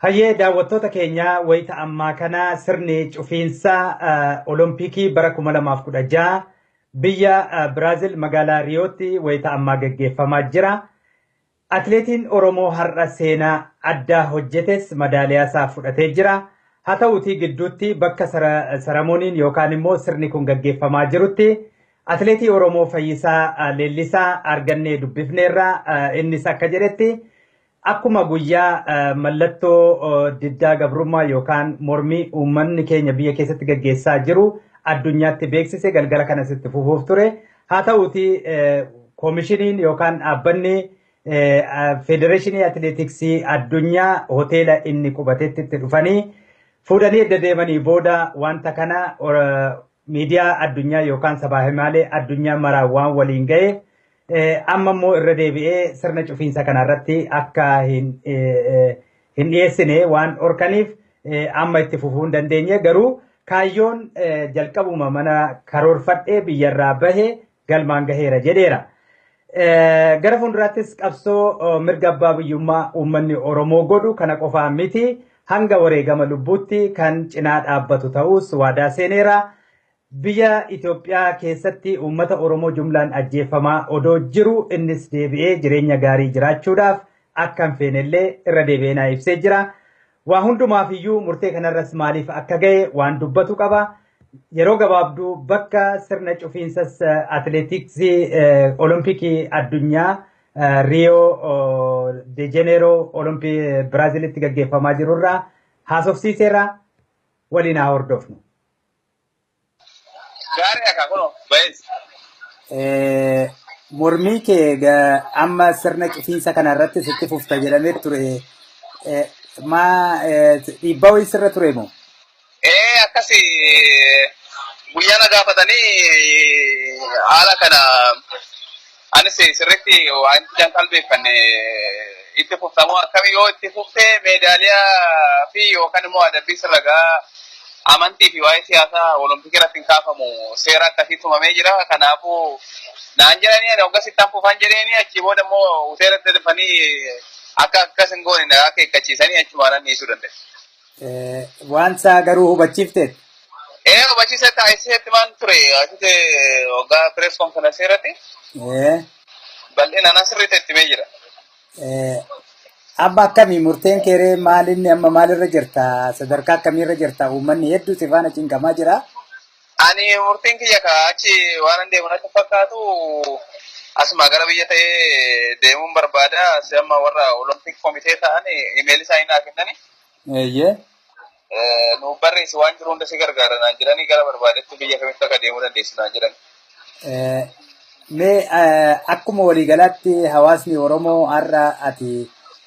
Hayyee daawwattoota keenya wayita ammaa kana sirni cufiinsa Olompikii bara 2016 biyya Biraazil magaalaa Riyootti wayita ammaa gaggeeffamaa jira. Atileetiin Oromoo har'a seenaa addaa hojjetes madaaliyaa isaa fudhatee jira. Haa ta'uutii gidduutti bakka saramooniin yookaan immoo sirni kun gaggeeffamaa jirutti atileetii Oromoo Fayyisaa Leellisaa argannee dubbifneerra innis akka jedhetti Akkuma guyyaa mallattoo diddaa gabrummaa yookaan mormii uummanni keenya biyya keessatti gaggeessaa jiru addunyaatti beeksise galgala kanas itti fufuuf ture. Haa ta'uuti koomishiniin yookaan dhaabbanni federeeshinii atileetiksii addunyaa hoteela inni qubatetti itti dhufanii fuudhanii edda deemanii booda wanta kana miidiyaa addunyaa yookaan sabaa himaalee addunyaa maraan waan waliin ga'eef Amma immoo irra deebi'ee sirna cufiinsa kana irratti akka hin dhiyeessine waan dhorkaniif amma itti fufuu hin dandeenye garuu kaayyoon jalqabuma mana karoorfadhee biyyarraa bahe galmaan gaheera jedheera. Gara fuulduraattis qabsoo mirga abbaa biyyummaa uummanni Oromoo godhu kana qofaa miti hanga wareegama lubbuutti kan cinaa dhaabbatu ta'us waadaa seeneera. Biyya Itoophiyaa keessatti uummata Oromoo jumlaan ajjeeffamaa odoo jiruu innis deebi'ee jireenya gaarii jiraachuudhaaf akka hin feenellee irra deebi'ee naa ibsee jira. Waa hundumaaf iyyuu murtee kanarras maaliif akka ga'e waan dubbatu qaba. Yeroo gabaabduu bakka sirna cufiinsas atileetiksii olompikii addunyaa Riyoo de Jeneeroo olompii Biraazilitti gaggeeffamaa jirurraa haasofsiiseera waliin haa hordofnu. Gaarii akka kunoo bayees. Eh, Mormii kee ga- amma sirna cufiinsa kana irratti sitti fufta jedhamee ture. Eh, Maa eh, dhiibbaa wayii sirra ture moo? Ee akkasi guyyaa na gaafatanii haala kana Anis sirriitti waan ijaan qalbeeffanne itti fuftamoo akkamii yoo itti fufte meedaaliyaa fi yookaan immoo adabbii sirragaa amantii fi waa'ee siyaasaa olompikii irratti hin kaafamu seera akkasii tumamee jira kanaafuu naan jedhanii ani hoggas ittaan fufan jedheeni achii booda immoo hoteela itti dafanii akka akkas hin goone na akeekkachiisanii achumaan anniisuu danda'e. Waan isaa garuu hubachiifteet. Ee hubachiisa taasisetti maan ture asitti waggaa pirees konferansii irratti bal'inaan asirratti itti mee jira. Amma akkamii murteen keeree maalinni amma maalirra jirta sadarkaa akkamiirra jirta uummanni hedduu si faana cinqamaa jira. Ani murtiin kiyya ka achi waanan deemu natti hin fakkaatu asumaa gara biyya ta'ee deemuun barbaada. Si amma warra Olompik komitee ta'an imeelii isaanii naa kennani. Eeyyee. Eh, Nuuf barreessi waan jiru hunda si gargaara naan jedhanii gara barbaadetti biyya kamitti akka deemuu dandeessu naan jedhan. Eh, Mee eh, akkuma waliigalaatti hawaasni Oromoo har'a ati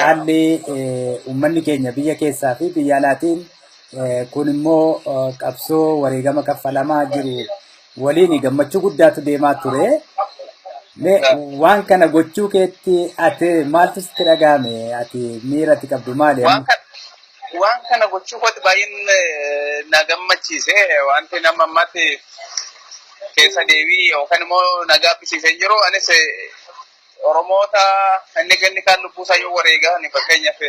haalli uummanni keenya biyya keessaa fi biyya alaatiin kun immoo qabsoo wareegama kaffalamaa jiru waliin gammachuu guddaatu deemaa ture. Waan kana gochuu keetti ati maaltu sitti dhaga'ame? Ati miira ati qabdu maali? Waan kana gochuu kootti baay'een na gammachiise. Wanti nama ammatti keessa deebii yookaan immoo na gaabbisiisee hin jiru. Anis Oromoota inni kenni kaan lubbuu isaa yoo wareegaa ni fakkeenyaaf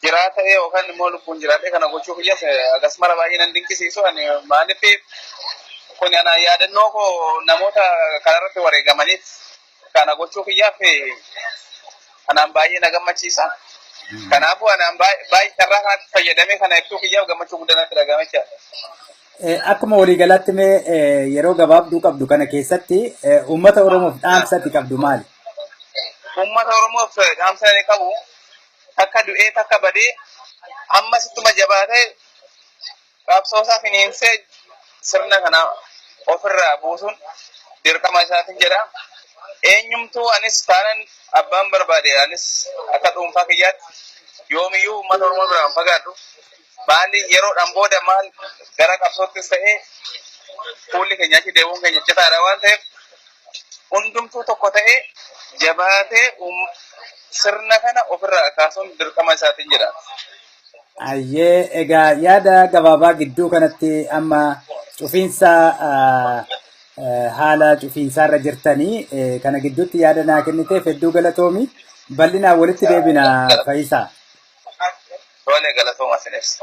jiraa ta'ee yookaan immoo lubbuun jiraatee kana gochuu kiyyas agas mara baay'ee nan dinqisiisu ani maaliif kun ana yaadannoo koo namoota kanarratti wareegamaniif kana gochuu kiyyaaf anaan baay'ee na gammachiisa. Kanaafuu anaan baay'ee carraa kanatti fayyadamee kana ibsuu kiyyaaf gammachuu guddaa natti dhaga'ame jechaadha. Eh, Akkuma waliigalaatti mee eh, yeroo gabaabduu qabdu kana keessatti eh, uummata Oromoof dhaamsa ati qabdu maali? Uummata Oromoof eh, dhaamsa inni qabu takka du'ee takka badee ammas ittuma jabaatee qabsoo isaa finiinsee sirna kana ofirraa buusuun dirqama isaatiin jedha. Eenyumtuu anis taanan abbaan barbaade anis akka dhuunfaa kiyyaatti yoomiyyuu uummata Oromoo biraan fagaadhu. Maali yeroodhaan booda maal gara qabsoottis ta'ee fuulli keenya achi deemuun keenya citaadha waan ta'eef hundumtuu tokko ta'ee jabaatee uum- sirna kana ofirraa kaasuun dirqama isaatiin jedha. Ayyee egaa yaada gabaabaa gidduu kanatti amma cufiinsa ah, eh, haala cufiinsaarra jirtanii eh, kana gidduutti yaada naa kenniteef hedduu galatoomi bal'inaan walitti deebina fayyisaa. Tole galatooma sinis.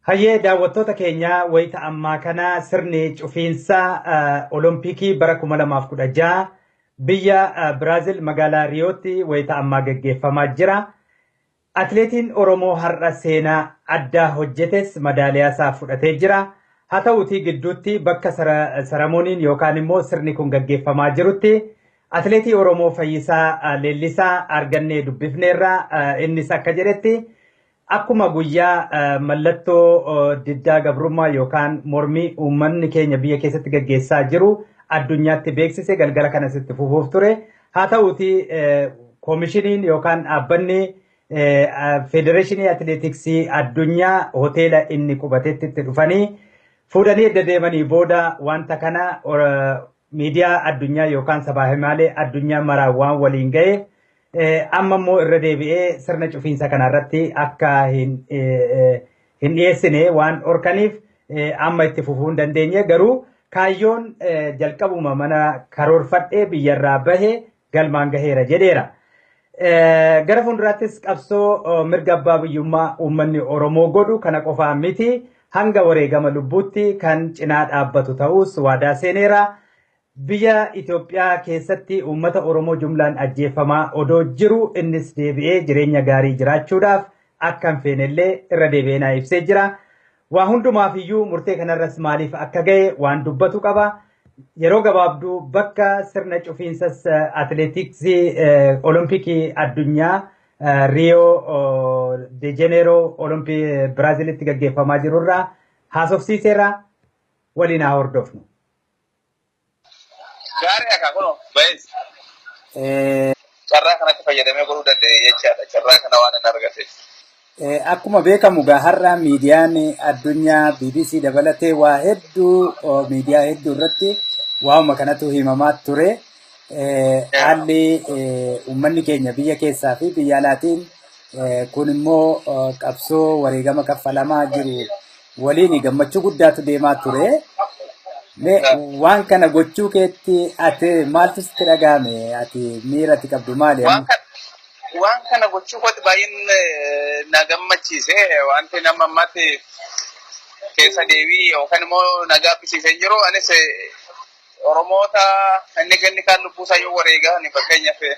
Hayyee daawwattoota keenya wayita ammaa kana sirni cufiinsa eh, Olompikii bara 2016 biyya eh, Biraazil magaalaa Riyootti wayita ammaa gaggeeffamaa jira. Atileetiin Oromoo har'a seenaa addaa hojjetes madaaliyaasaa fudhatee jira. Haa ta'uutii gidduutti bakka saramooniin yookaan immoo sirni kun gaggeeffamaa jirutti atileetii Oromoo Fayyisaa Leellisaa argannee dubbifneerra. Innis akka jedhetti akkuma guyyaa mallattoo diddaa gabrummaa yookaan mormii uummanni keenya biyya keessatti gaggeessaa jiru addunyaatti beeksise galgala kanas itti fufuuf ture. Haa ta'uti koomishiniin yookaan dhaabbanni federeeshinii atileetiksii addunyaa hoteela inni qubatetti itti dhufanii fuudhanii edda deemanii booda wanta kana miidiyaa addunyaa yookaan sabaa himaalee addunyaa maraan waan waliin ga'eef amma immoo irra deebi'ee sirna cufiinsa kana irratti akka hin dhiyeessine waan dhorkaniif amma itti fufuu hin dandeenye garuu kaayyoon jalqabuma mana karoorfadhee biyyarraa bahe galmaan gaheera jedheera. Gara fuulduraattis qabsoo mirga abbaa biyyummaa uummanni Oromoo godhu kana qofaa miti hanga wareegama lubbuutti kan cinaa dhaabbatu ta'uus waadaa seeneera. Biyya Itoophiyaa keessatti uummata Oromoo jumlaan ajjeeffamaa odoo jiruu innis deebi'ee jireenya gaarii jiraachuudhaaf akka hin feenellee irra deebi'ee naa ibsee jira. Waa hundumaaf iyyuu murtee kanarras maaliif akka ga'e waan dubbatu qaba. Yeroo gabaabduu bakka sirna cufiinsas atileetiksii olompikii addunyaa Riyoo de Jeneeroo olompii Biraazilitti gaggeeffamaa jirurraa haasofsiiseera waliin haa hordofnu. Gaarii akka kunoo baay'ee carraa kanatti fayyadamee godhuu danda'e jechaadha. Carraa kana waan hin argate. Eh, Akkuma beekamu gaa har'a miidiyaan addunyaa BBC dabalatee waa hedduu oh, miidiyaa hedduu irratti waa'uma kanatu himamaa ture. Eh, Haalli eh, uummanni keenya biyya keessaa fi biyya alaatiin eh, kun immoo oh, qabsoo wareegama kaffalamaa jiru waliin gammachuu guddaatu deemaa ture. Mee waan kana gochuu keetti ati maaltu sitti dhaga'ame? Ati miira ati qabdu maali? Waan amma? kana waan kana gochuu kooti baay'een eh, na gammachiise wanti nama ammatti keessa deebii yookaan immoo na gaabbisiisee hin jiru anis eh, oromoota inni ganni kaan lubbuu isaa yoo wareegaa ani fakkeenyaaf eh,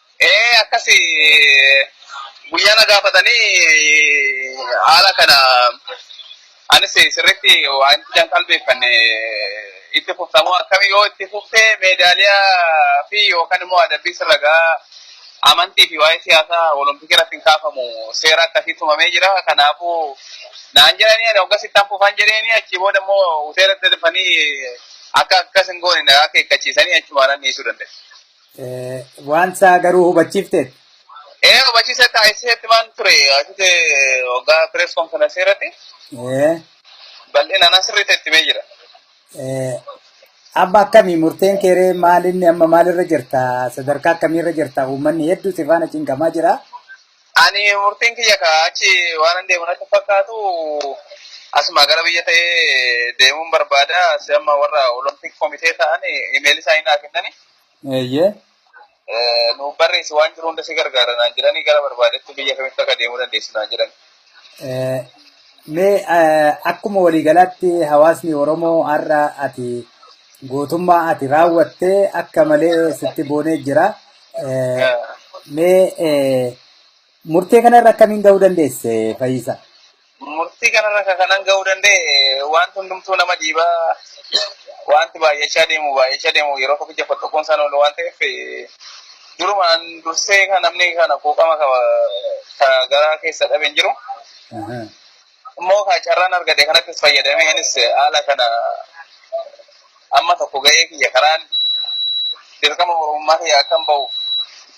Ee akkasi guyyaa na gaafatanii haala kana anis sirriitti waan ijaan qalbeeffanne itti fuftamoo akkami yoo itti fufte meedaaliyaa fi yookaan immoo adabbii sirra gaa amantii fi waa'ee siyaasaa olompikii irratti hin kaafamu seera akkasii tumamee jira kanaafuu naan jedhanii ani hoggas ittaan fufan jedheeni achii booda immoo hoteelatti dafanii akka akkas hin goone na akeekkachiisanii achumaan dhiisuu danda'e. Waan isaa garuu hubachiifteet. Ee hubachiisa ta'a isheetti maan ture asitti waggaa pirees konfiraansii irratti bal'inaan asirratti itti mee jira. Amma akkamii murteen keeree maalinni amma maalirra jirta sadarkaa akkamiirra jirta uummanni hedduu si faana cinqamaa jira. Ani murtiin kiyya kaa achi waan hin deemu natti fakkaatu asuma gara biyya ta'ee deemuun barbaada. Asi amma warra olompik komitee ta'an imeelii isaanii naa kennani. Eeyyee. Eh, Nuuf barreessi waan jiru hunda si gargaara naan jedhanii gara barbaadetti biyya kamitti akka deemuu dandeessu naan jedhan. Eh, Mee eh, akkuma waliigalaatti hawaasni Oromoo har'a ati gootummaa ati raawwattee akka malee sitti boonee jira. Eh, Eh, Mee eh, murtee kanarra akkamiin gahuu dandeesse Fayisaa? Murtii kanarra kan kanan ga'uu danda'e wanti hundumtuu nama dhiiba. Wanti baay'achaa deemu baay'achaa deemu yeroo tokkicha fottoquun isaan oolu waan ta'eef durumaan dursee kan namni kana quuqama qaba ka garaa keessa dhabe hin jiru. Immoo kan carraan argate kanattis fayyadamee anis haala kana amma tokko ga'ee kiyya karaan dirqama Oromummaa kiyya akkan ba'uuf